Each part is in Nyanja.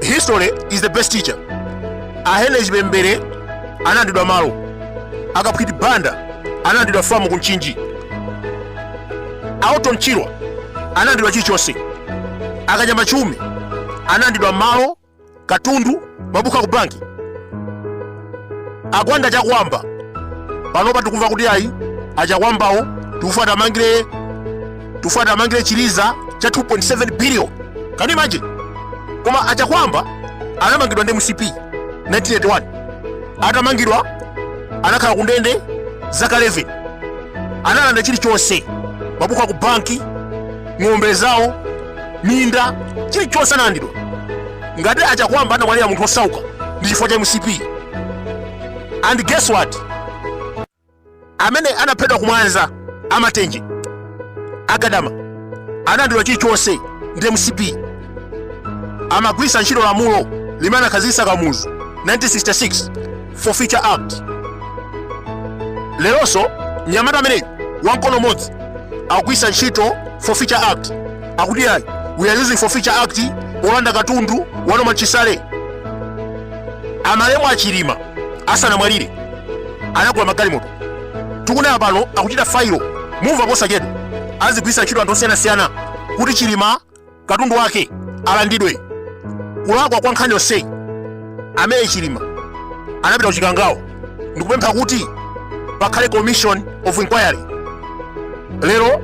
history is the best teacher ahenry chipembere analandidwa malo akaphwiti banda analandidwa famu ku mchinji aorton chirwa analandidwa chilichonse akanyama chiume analandidwa malo katundu mabuku aku banki agwanda chakwamba panopa tikumva kuti ayi achakwambawo tikufuna tamangire chiliza cha 2.7 billion can you imagine koma achakwamba anamangidwa ndi mcp 1981 atamangidwa anakhala kundende zaka 11 analanda chilichonse mabuku aku banki ng'ombe zawo minda chilichonse analandidwa ngati achakwamba anamwalira munthu osauka ndi chifukwa cha mcp and guess what amene anaphedwa kumwanza amatenje agadama analandidwa chilichonse ndi mcp amagwirisa ntchito lamulo limene anakhazikitsa kamuzu 1966 forfeiture act leronso mnyamata ameneyu wamkono umodzi akugwiritsa ntchito forfeiture act akuti ayi we are using forfeiture act wolanda katundu wa norman chisale amalemu achilima asanamwalire anagula magalimoto tikunena pano akuchita failo mumva posachedwa azigwiritsa ntchito anthu osiyanasiyana kuti chilima katundu wake alandidwe kulakwa kwa nkhani yonseyi amene chilima anapita kuchikangawa ndikupempha kuti pakhale commission of inquiry lero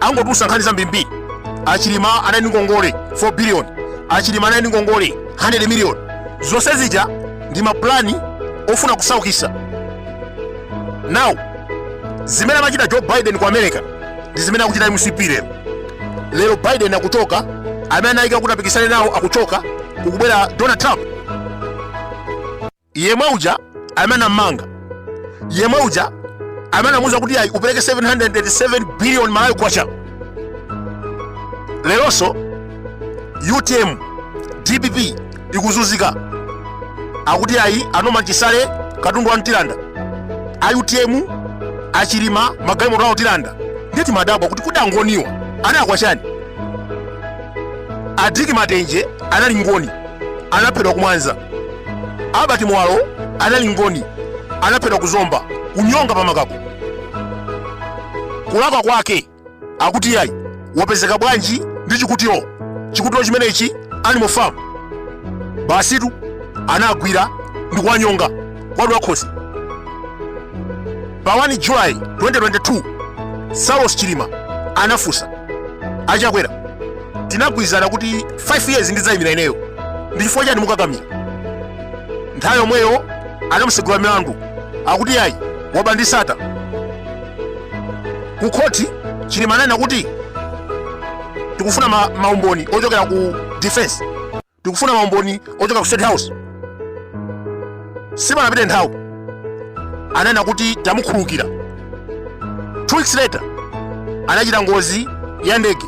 angotulusa nkhani zambirimbiri achilima anali ndi ngongole 4 billion achilima anali ndi ngongole 100 million zonse zija ndi mapulani ofuna kusaukisa now zimene amachita joe biden ku america ndi zimene akuchita mcp lero lero biden akuchoka amene anayika kuti apikisane nawo akuchoka kukubwera donald trump yemwe uja amene anammanga yemwe uja amene anamuuza kuti ayi upereke 787 billion malawi kwacha leronso utm dpp ikuzuzika akuti ayi anorman chisale katundu wawo tilanda a utm achilima magalimoto awo tilanda nde timadabwa kuti kodi angoniwa analakwa chani adick matenje anali ngoni anaphedwa kumwanza albert muwalo anali ngoni anaphedwa kuzomba kunyonga pamakako kulakwa kwake akuti yayi wapezeka bwanji ndi chikutiro chikutiro chimenechi animal farm basitu anawagwira ndi kuwanyonga kuwadula khosi pa 1 july 2022 saulos chilima anafunsa achakwera tinagwirizana kuti 5 years ndidzayimira ineyo ndi chifukwa chani mukukakamira nthawi yomweyo anamutsegulira milandu akuti yayi waba ndi Sattar ku khoti chilima ananena kuti tikufuna maumboni ochokera ku defense tikufuna maumboni ochokera ku state house sipanapite nthawi ananena kuti tamukhulukira two weeks later anachita ngozi ya ndege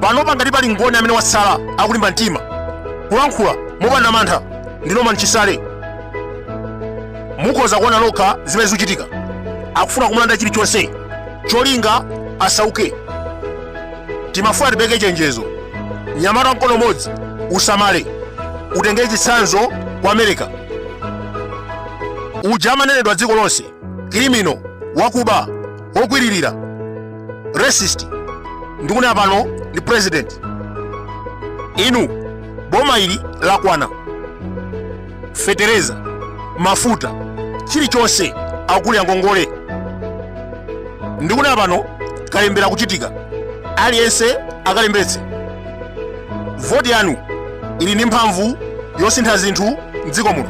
panopa ngati pali ngoni amene watsala akulimba mtima kulankhula mopanda mantha ndi Norman Chisale mukhoza kuona lokha zimene zikuchitika akufuna kumulanda chilichonse cholinga asauke timafuna tipeke chenjezo mnyamata wa mkono umodzi usamale utengere chitsanzo kwa america uja amanenedwa dziko lonse criminal wakuba wokwiririra racist ndikunena pano ndi president inu boma ili lakanika fetereza mafuta chilichonse akulira ngongole ndikunena pano kalembera kuchitika aliyense akalembetse voti yanu ili ndi mphamvu yosintha zinthu mdziko muno